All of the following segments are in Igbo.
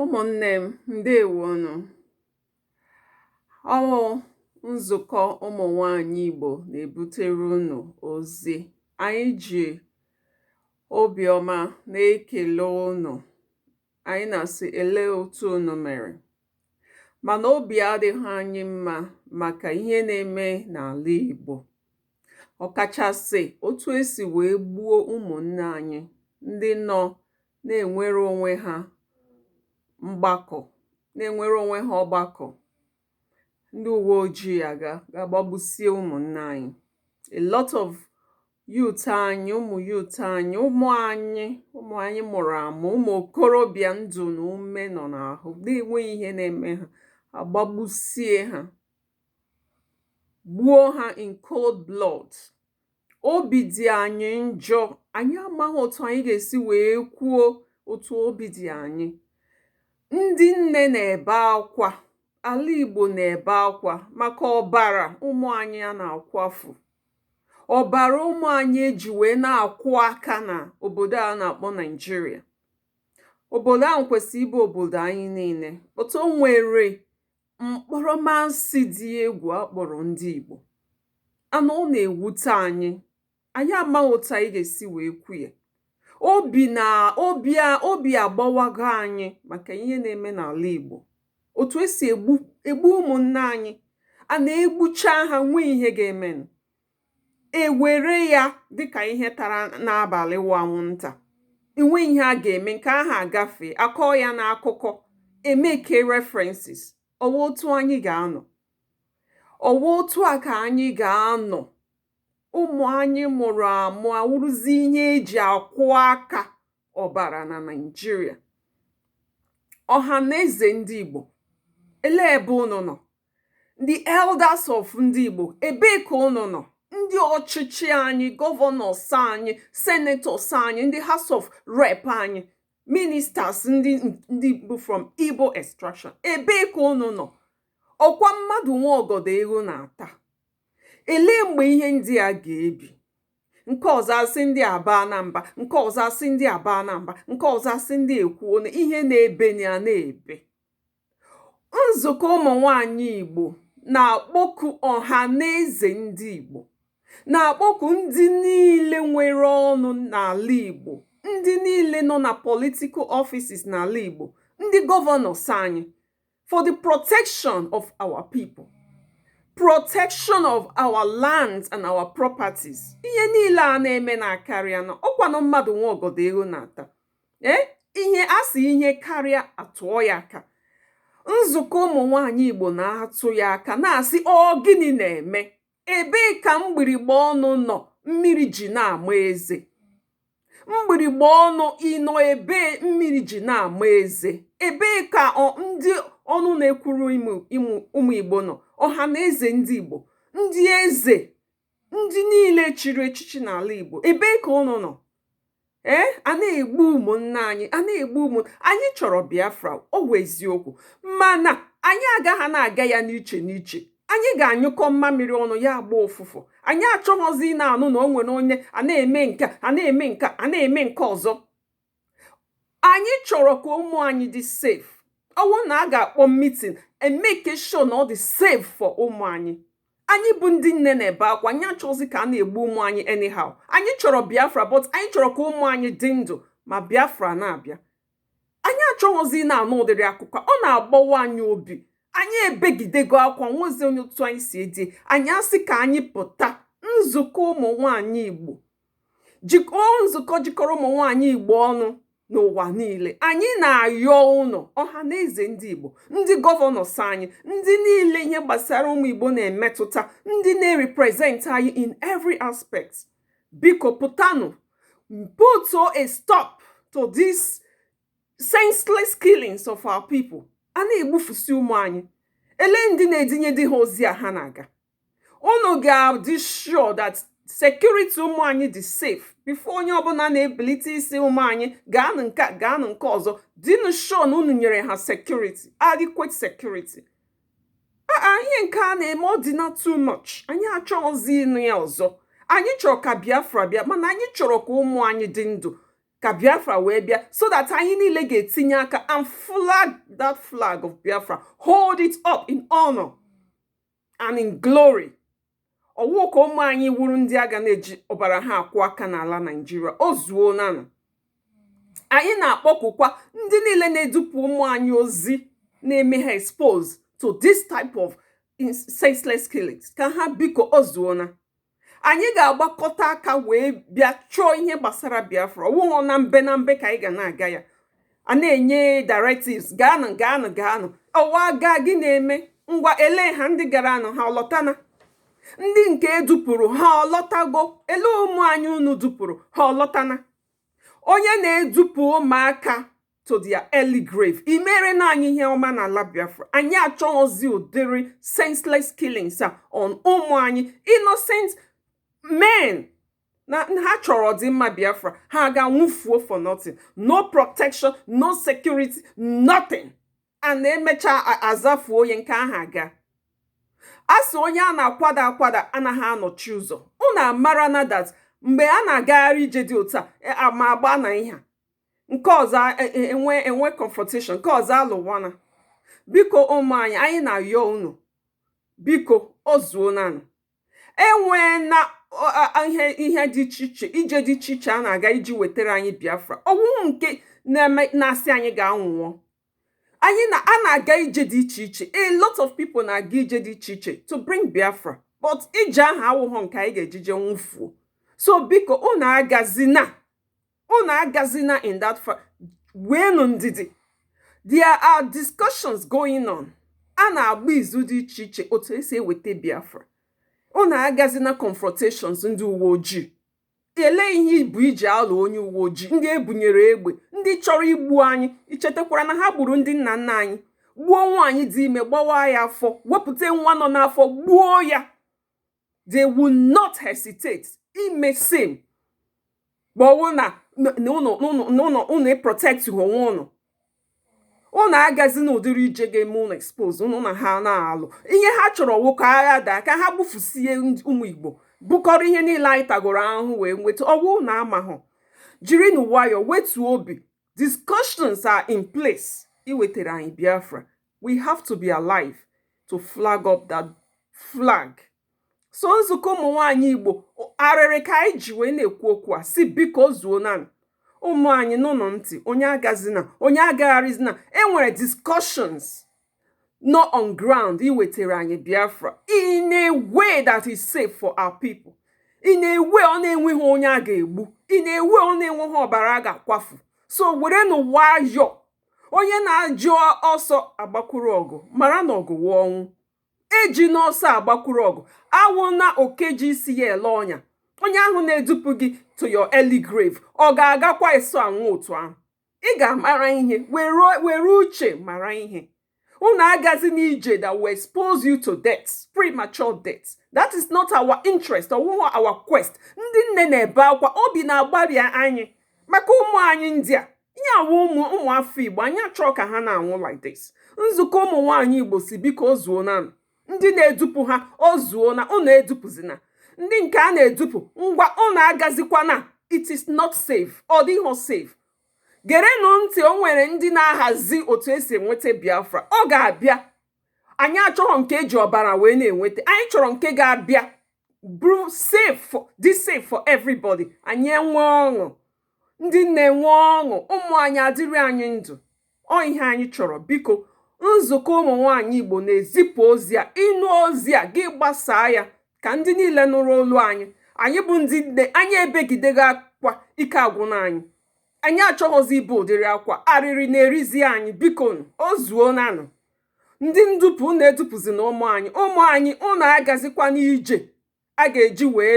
ụmụ̀nnē m ǹdeèwo nụ̀ ọ wụ̄ nzùkọ ụmụ̀nwaànyị ìgbò nà-èbutere unù ozi ànyị jì obì ọma na-ekèle unù ànyị nà-àsị èle otu unù mèrè mànà obì adị̄ghị̄ anyị mmā màkà ihe nā-eme n'àla ìgbò ọ̀ kàchàsị̀ otu e sì wèe gbuo ụmụ̀nnē anyị ndị nọ̄ na-enwere onwe ha mgbakọ na-enwere onwe ha ọgbakọ ndị uwe ojii aga ga-agbagbusie ụmụnne anyị a lot of youth anyị ụmụ youth anyị ụmụ anyị ụmụ anyị mụrụ amụ ụmụ okorobịa ndụ na ume nọ n'ahụ na-enweghị ihe na-eme ha agbagbusie ha gbuo ha in cold blood obi dị anyị njọ anyị amaghị otu anyị ga-esi wee kwuo otu obi dị anyị ndị nne na-ebe akwa ala Igbo na-ebe akwa maka ọbara ụmụ anyị a na-akwafu ọbara ụmụ anyị e ji wee na-akwọ aka na obodo a na-akpọ Naịjirịa obodo ahụ kwesịrị ịbụ obodo anyị niile but o nwere mkpọrọmasị dị egwù a kpọ̀rọ̀ ndị ìgbò a nà ọ nà-èwute anyị ànyị amaghị otu anyị gà-èsi wee kwu ya obì nà obì a obì àgbawago anyị màkà ihe na-eme n'àla ìgbò òtù e sì ègbu ègbu ụmụ̀nna anyị à nà-egbucha ha e nweghị ihe ga-emenụ e were ya dịkà ihe tara n'abàlị wụ anwụntà e nweghị ihe a ga-eme nke ahụ agafee a kọọ ya n'akụkọ e make references ọ wụ otu anyị ga-anọ ọ wụ otu a ka anyị ga-anọ ụmụ anyị mụrụ amụ awụrụzi ihe e ji akwọ aka ọbara na Naịjirịa ọha na eze ndị Igbo elee ebe unu nọ ndị elders of ndị Igbo ebee ka unu nọ ndị ọchịchị anyị governors anyị senators anyị ndị house of rep anyị ministers ndị ndị Igbo from Igbo extraction ebee ka unu nọ ọkwa mmadụ nwe ọgọdọ eghu na-ata elee mgbe ihe ndị a ga-ebi nke ọzọ asị ndị aba na mba nke ọzọ asị ndị aba na mba nke ọzọ asị ndị ekwuo na ihe na-ebe na ya na-ebe nzukọ ụmụ nwanyị Igbo na-akpọku ọha na eze ndị Igbo na-akpọku ndị niile nwere ọnụ n'ala Igbo ndị niile nọ na political offices n'ala Igbo ndị governors anyị for the protection of our people protection of our lands and our properties ihe niile a na-emenụ akarịana ọkwanụ mmadụ nwe ọgọdọ eghu na-ata ee eh, ihe a sị ihe karịa a tụọ ya aka nzukọ ụmụ nwanyị igbo na-atụ ya aka na-asị ọ gịnị na-eme ebee ka mgbirigba ọnụ nọ mmiri ji na-ama eze mgbirigba ọnụ ị nọ ebee mmiri ji na-ama eze ebee ka ndị ọnụ na-ekwuru ụmụ igbo nọ ọha na eze ndị igbo ndị eze ndị niile chiri echichi n'ala Igbo ebee ka ụnụ nọ ee eh, a na-egbu ụmụnna anyị a na-egbu ụmụ anyị chọrọ Biafra ọ wụ eziokwu mana anyị agaghị na-aga ya n'iche n'iche anyị ga-anyụkọ mmamịrị ọnụ ya agba ụfụfụ anyị achọghọzi ịna-anụ na o nwere onye a na-eme nke a na-eme nke a na-eme nke ọzọ anyị chọrọ ka ụmụ anyị dị safe ọ wụ na a ga-akpọ mitin e make sure na ọ dị safe for ụmụ anyị anyị bụ ndị nne na-ebe akwa anyị achọghọzi ka a na-egbu ụmụ anyị anyhow anyị chọrọ biafra but anyị chọrọ ka ụmụ anyị dị ndụ ma biafra na-abịa anyị achọghịzi na-anụ ụdịrị akụkọ ọ na-agbawa anyị obi anyị ebegidego akwa nwezi onye otu anyị si edi anyị asị ka anyị pụta nzukọ ụmụ nwanyị igbo jikọọ nzukọ jikọrọ ụmụ nwaanyị igbo ọnụ n'ụwa niile anyị na-ayọ ụnụ ọha na eze ndị igbo ndị governors anyị ndị niile ihe gbasara ụmụ igbo na-emetụta ndị na-represent anyị in every aspect biko pụtanụ put a stop to this senseless killings of our people a na-egbufusi ụmụ anyị elee ndị na-edinyedị ha ozi a ha na-aga unu ga-adị sure that security ụmụ anyị dị safe before onye ọbụla na-ebilite ịsị ụmụ anyị gaanụ nke a gaanụ nke ọzọ dịnụ sure na unu nyere ha security adequate security ihe nke a na-eme ọ dịna too much anyị achọghịzi ịnụ ya ọzọ anyị chọrọ ka biafra bịa mana anyị chọrọ ka ụmụ anyị dị ndụ ka biafra wee bịa so that anyị niile ga-etinye aka and flag that flag of biafra hold it up in honor and in glory ọ wụghọ ka ụmụ anyị wụrụ ndị a ga na-eji ọbara ha akwọ aka n'ala naijiria o zuonanụ anyị na-akpọkukwa ndị niile na-edupụ ụmụ anyị ozi na-eme ha expose to this type of senseless killings ka ha biko o zuona anyị ga-agbakọta aka wee bịa chọọ ihe gbasara biafra ọ wụghọ na mbe na mbe ka anyị ga na-aga ya a na-enye directives gaanụ gaanụ gaanụ ọwa gaa gị na-eme ngwa elee ha ndị garanụ ha ọ lọtana ndị nke e dupụrụ ha ọ lọtago elee ụmụ anyị unu dupụrụ ha ọ lọtana onye na-edupụ ụmụaka to their early grave i merena anyị ihe ọma na ala biafra anyị achọghịzi ụdịrị senseless killings a on ụmụ anyị innocent men na ha chọrọ ọdịmma biafra ha ga-anwụfuo for nothing no protection no security nothing a na-emecha azafuo onye nke ahụ a ga-asị onye a na-akwada akwada anaghị anọchi ụzọ unu amara na that mgbe a na-agagharị ije dị otu a e, ama agba na ihe nke ọzọ e, e, enwe enwe confrontation nke ọzọ alụwana biko ụmụ anyị anyị na-ayọ unu biko o zuonanụ enweena ihe ihe dị iche iche ije dị iche iche a na-aga iji wetara anyị biafra ọ wụghị nke na-eme na-asị anyị gaa nwụọ anyị na a na-aga ije dị iche iche a lot of people na-aga ije dị iche iche to bring biafra but ije ahụ awụghọ nke anyị ga-eji je nwụfuo so biko unu agazina unu agazina in that far weenụ ndidi there are discussions going on a na-agba izu dị iche iche otu esi eweta biafra unu agazina confrontations ndị uwe ojii elee ihe i bu i ji alụ onye uwe ojii ndị ebunyere egbe ndị chọrọ igbu anyị i chetakwara na ha gburu ndị nna nna anyị gbuo nwaanyị dị ime gbawa ya afọ wepụta nwa nọ n'afọ gbuo ya they will not hesitate ime same ma ọ bụrụ na na ụnụ ụnụ na ụnụ ụnụ ịprotect onwe ụnụ ụnụ agazi na ụdịrị ije ga-eme ụnụ expose ụnụ na ha na-alụ ihe ha chọrọ wụ ka agha daa ka ha gbufusie ndị- ụmụ igbo bụkọrọ ihe niile anyị tagoro ahụhụ wee nweta ọ wụ ụnụ amahụ jirinụ nwayọọ wetuo obi discussions are in place iwetara anyị biafra we have to be alive to flag up that flag so nzukọ ụmụ nwaanyị igbo arịrị ka anyị ji wee na-ekwu okwu asị biko o zuona ụmụ anyị ṅaanụ ntị onye agazina onye agagharịzina enwere discussions nọ on ground iwetara anyị biafra in a way that is safe for our people in a way ọ na-enweghị onye a ga-egbu in a way ọ na-enweghị ọbara a ga-akwafu so werenụ nwayọọ onye na-eji ọsọ agbakwuru ọgụ mara na ọgụ wụ ọnwụ ejina ọsọ agbakwuru ọgụ awụna oke ji isi ya ele ọnya onye ahụ na-edupụ gị to your early grave ọ ga-agakwa eso anwụ otu ahụ ị ga-amara ihe were uche mara ihe unu agazi n'ije that will expose you to death premature death that is not our interest ọwụghị our quest ndị nne na-ebe akwa obi na-agbarị anyị maka ụmụ anyị ndị a na-anwụ ụmụ ụmụ afọ igbo anyị achọọ ka ha na-anwụ like this nzukọ ụmụ nwaanyị igbo sị biko o zuonanụ ndị na-edupụ ha o zuona unu edupụzina ndị nke a na-edupụ ngwa unu agazikwana it is not safe ọ dịghị safe gerenụ ntị o nwere ndị na-ahazi otu esi enweta biafra ọ ga-abịa anyị achọghị nke eji ọbara wee na-enweta anyị chọrọ nke ga-abịa bụrụ safe for dị safe for everybody anyị enwe ọṅụ ndị na-enwe ọṅụ ụmụ anyị adịrị anyị ndụ ọ ihe anyị chọrọ biko nzukọ ụmụ nwaanyị igbo na-ezipụ ozi a ị nụ ozi a gị gbasaa ya ka ndị niile nụrụ olu anyị anyị bụ ndị nne anyị ebegidego akwa ike agwụna anyị anyị achọghịzi ibe ụdịrị akwa arịrị na-erizi anyị biko o zuonanụ ndị ndupụ na edupụzina ụmụ anyị ụmụ anyị ụnụ agazikwana ije a ga-eji wee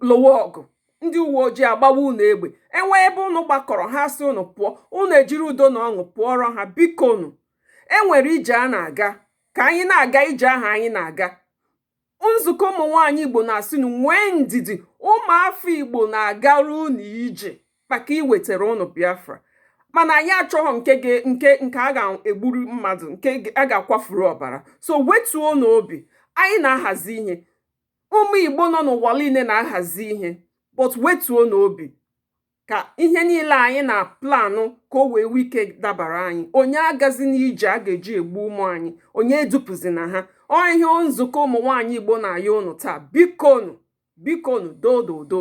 lụwa ọgụ ndị uwe ojii agbawa unu egbe enwee ebe unu gbakọrọ ha sị unu pụọ unu ejiri udo na ọṅụ pụọrọ ha bikonụ enwere ije a na-aga ka anyị na-aga ije ahụ anyị na-aga nzukọ ụmụ nwaanyị igbo na-asị nu nwee ndidi ụmụafọ igbo na-agara unu ije maka iwetara ụnụ Biafra mana anyị achọghị nke nke nke a ga-egburu mmadụ nke a ga-akwafuru ọbara so wetuonụ obi anyị na-ahazi ihe ụmụ Igbo nọ n'ụwa niile na-ahazi ihe but wetuonụ obi ka ihe niile anyị na-aplanụ ka o wee nwee ike dabara anyị onye agazina ije a ga-eji egbu ụmụ anyị onye edupụzina ha ọ ihe nzukọ ụmụ nwaanyị Igbo na-ayọ ụnụ taa bikonu bikonu dododo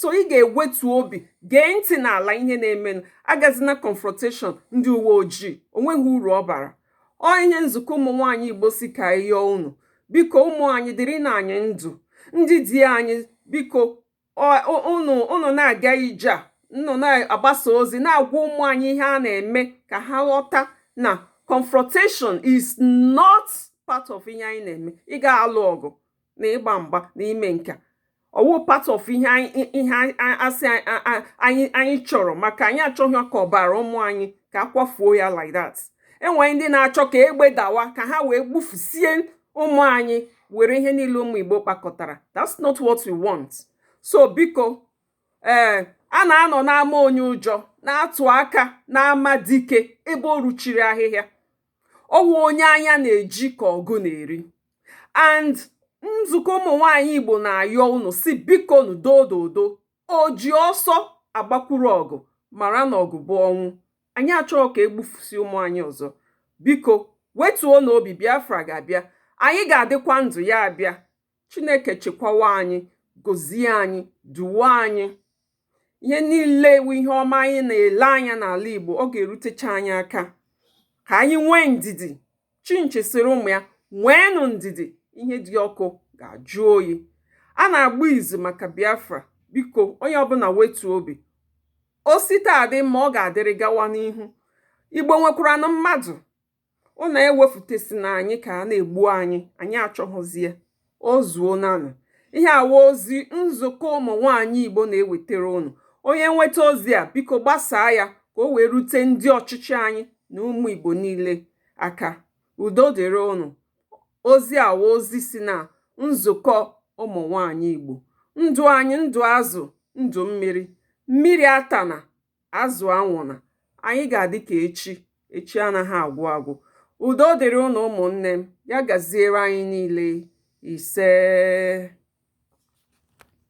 so ị ga-ewetu obi gee ntị n'ala ihe na-emenụ agazina confrontation ndị uwe ojii onweghị uru ọ bara ọ ihe nzukọ ụmụ nwaanyị igbo sị ka a yọọ unu biko ụmụ anyị dịrịnụ anyị ndụ ndị di anyị biko unu na-aga ije a unu na-agbasa ozi na-agwa ụmụ anyị ihe a na-eme ka ha ghọta na confrontation is not part of ihe anyị na-eme ịga alụ ọgụ na ịgba mgba na ime nke a ọwụ part of ihe ihe asị anyị anyị chọrọ maka anyị achọghị ka ọbara ụmụ anyị ka akwafuo ya like that enwere ndị na-achọ ka egbe dawa ka ha wee gbufusie ụmụ anyị were ihe niile ụmụ Igbo kpakọtara that's not what we want so biko ee eh, a na-anọ n'ama onye ụjọ na-atụ aka n'ama dike ebe o ruchiri ahịhịa ọwụ onye anya na-eji ka ọgụ na-eri and nzukọ ụmụ nwaanyị Igbo na-ayọ unu sị bikonụ dododo oji ọsọ agbakwuru ọgụ mara na ọgụ bụ ọnwụ anyị achọghị ka egbufusi ụmụ anyị ọzọ biko wetuonụ obi Biafra ga-abịa anyị ga-adịkwa ndụ ya abịa Chineke chekwawa anyị gozie anyị duwe anyị ihe niile wụ ihe ọma anyị na-ele anya n'ala Igbo ọ ga-erutecha anyị aka ka anyị nwee ndidi chinchi sịrị ụmụ ya nweenụ ndidi ihe dị ọkụ ga-ajụ oyi a na-agba izu maka Biafra biko onye ọbụla wetu obi o si taa dị mma ọ ga-adịrị gawa n'ihu Igbo nwekwaranụ mmadụ unu ewefutesina anyị ka a na-egbu anyị anyị achọghọzie o zuonanụ ihe a wụ ozi nzukọ ụmụ nwaanyị igbo na-ewetara unu onye nweta ozi a biko gbasaa ya ka o wee rute ndị ọchịchị anyị na ụmụ igbo niile aka udo dịrị unu ozi a wụ ozi si na nzukọ ụmụ nwaanyị igbo ndụ anyị ndụ azụ ndụ mmiri mmiri atana azụ anwụna anyị ga-adị ka echi echi anaghị agwụ agwụ udo dịrị unu ụmụnne m ya gaziere anyị niile isee